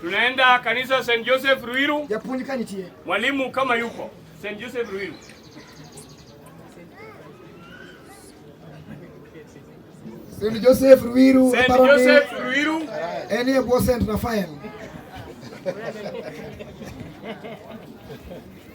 Tunaenda kanisa St. Joseph Ruiru. Mwalimu kama yuko St. Joseph Ruiru. St. Joseph Ruiru. St. Joseph Ruiru. Eni e bwo St. Raphael.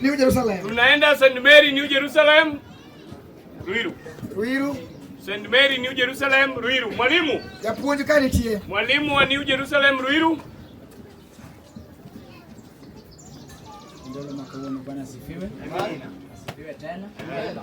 New Jerusalem. Tunaenda St. Mary New Jerusalem. Ruiru. Ruiru. St. Mary New Jerusalem Ruiru. Mwalimu. Japuonj ka nitie. Mwalimu wa New Jerusalem Ruiru. Ndolo makawoni Bwana sifiwe. Amina. Sifiwe tena. Amina.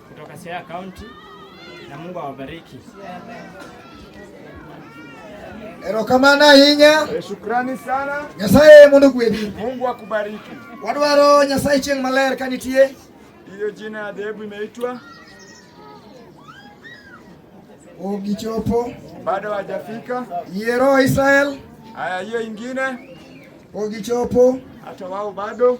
kutoka Siaya County na Mungu awabariki. Erokamana ahinya. Eh, shukrani sana. Nyasaye mondo gwedhi. Mungu akubariki. Wadwaro Nyasaye chieng' maler ka nitie. Hiyo jina ya dhehebu imeitwa Ogichopo. Bado hajafika. Yero Israel. Haya, hiyo ingine Ogichopo. Hata wao bado.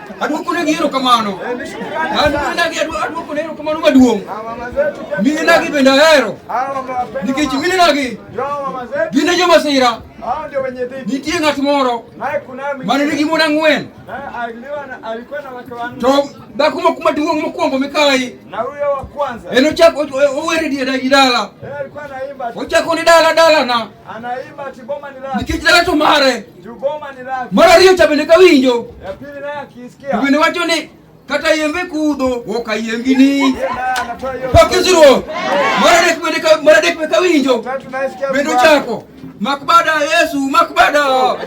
Adwoko ne gi erokamano. Adwokona gi adwoko ne erokamano maduong'. Minena gi bende ahero. Nikech minena gi gin e joma sira. Nitie ng'at moro mane nigi mon ang'wen. To dhako maduong' mokwongo mikayi. En ochako owere dala. Ochako ni dala dalana. Anaimba ati boma ni lake. Nikech dala to mare. Ju boma ni lake. Mar ariyo cha bende kawinjo. Ya pili naye akisikia. Bende wacho ni kata yembe kudho woka yembi ni. Pakiziro. Mar adek bende ka mar adek bende kawinjo. Bende ochako. Makbada Yesu, makbada.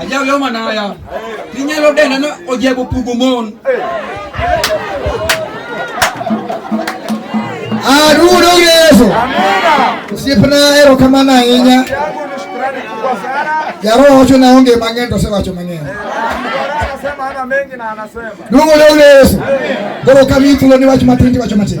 Ajaw yo manaya. Tinyalo dena no ojebo pugo mon. Arudo Yesu. Osiepna ero kamano ahinya. Jaroho wacho na onge mang'eny to osewacho mang'eny. Duogo leo Yesu. Koro kama hii tuloni wacho matin wacho matin.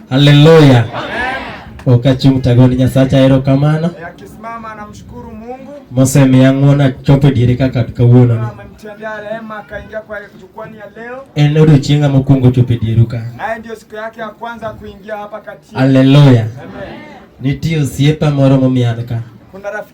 Haleluya. Okachung' tagoni Nyasacha ero kamano. Eh, akisimama anamshukuru Mungu. Mose miang'ona chopo diere kaka kawuono. Amemtendea rehema akaingia kwa jukwani ya leo. En odiochienga mokwongo chopo dieru ka. Naye ndio siku yake ya kwanza kuingia hapa kati. Haleluya. Amen. Nitie osiepa moro momian ka. Kuna rafiki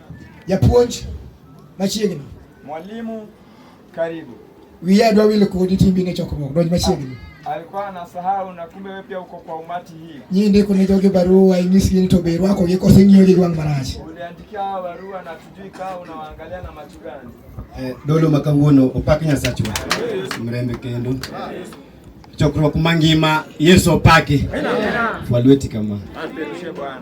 Japuonj machiegni. Mwalimu karibu. Wiye adwa wilo kodi timbi ne chokruok donj machiegni. Alikuwa anasahau na kumbe wewe pia uko kwa umati hii. Nyinyi ndiko ni jogi barua inyisi ni to beru wako yeko sengiyo gi gwang marach. Uliandikia barua na tujui kaa unawaangalia na macho gani. Eh, dolo makanguono opaki nyasachwa. Mrembe kendo. Chokruok mangima Yesu opaki. Walweti kama. Asante Bwana.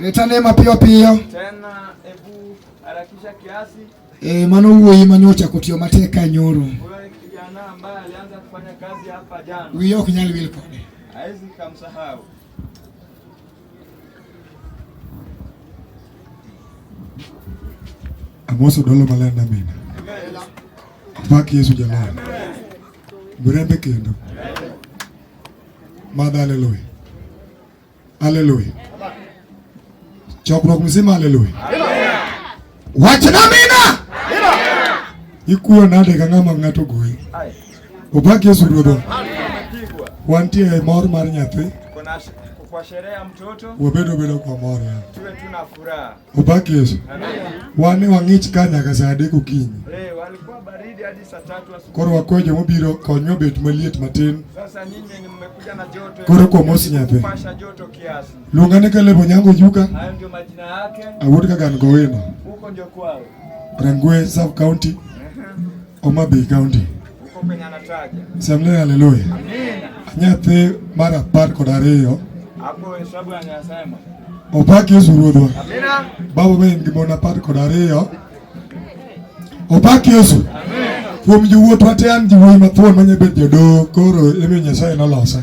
Leta neema piyo piyo. Tena ebu harakisha kiasi. E, mano wuoyi manyocha kotiyo matek ka nyoro. Wewe kijana ambaye alianza kufanya kazi hapa jana. Wiye ok nyal wil kode. Hawezi kumsahau. Amoso dolo maler na mina. Pak Yesu jalal. Murembe kendo. Madha haleluya. Haleluya. Chokruok mzima haleluya. Wachna mina. Ikuyo nade ka ng'ama ng'ato goyi. Opak Yesu Ruodhwa. Wantie e mor mar nyathi. Kwa sherehe ya mtoto. Wabedo bedo kwa mor. Tuwe tuna furaha. Ubaki Yesu. Wani wang'ich ka nyaka saa adek okinyi. Eh, walikuwa baridi hadi saa tatu asubuhi. Koro wakwe joma obiro konyo bet maliet matin. Sasa nyinyi mmekuja na joto. Koro kwa mosi nyathi. Pasha joto kiasi. Lunga ne kale bonyango juka. Hayo ndio majina yake. Awuod ka gan gowino. Huko ndio kwao. Rangwe South County. Homa Bay County. Semle haleluya. Nyathi mar apar kod ariyo opak Yesu Ruodhwa. Baba be en gi mon apar kod ariyo opak Yesu. Kuom jowuotwa te an jowuoyi mathuon manyabet jodoo koro emiyo Nyasaye nolosa.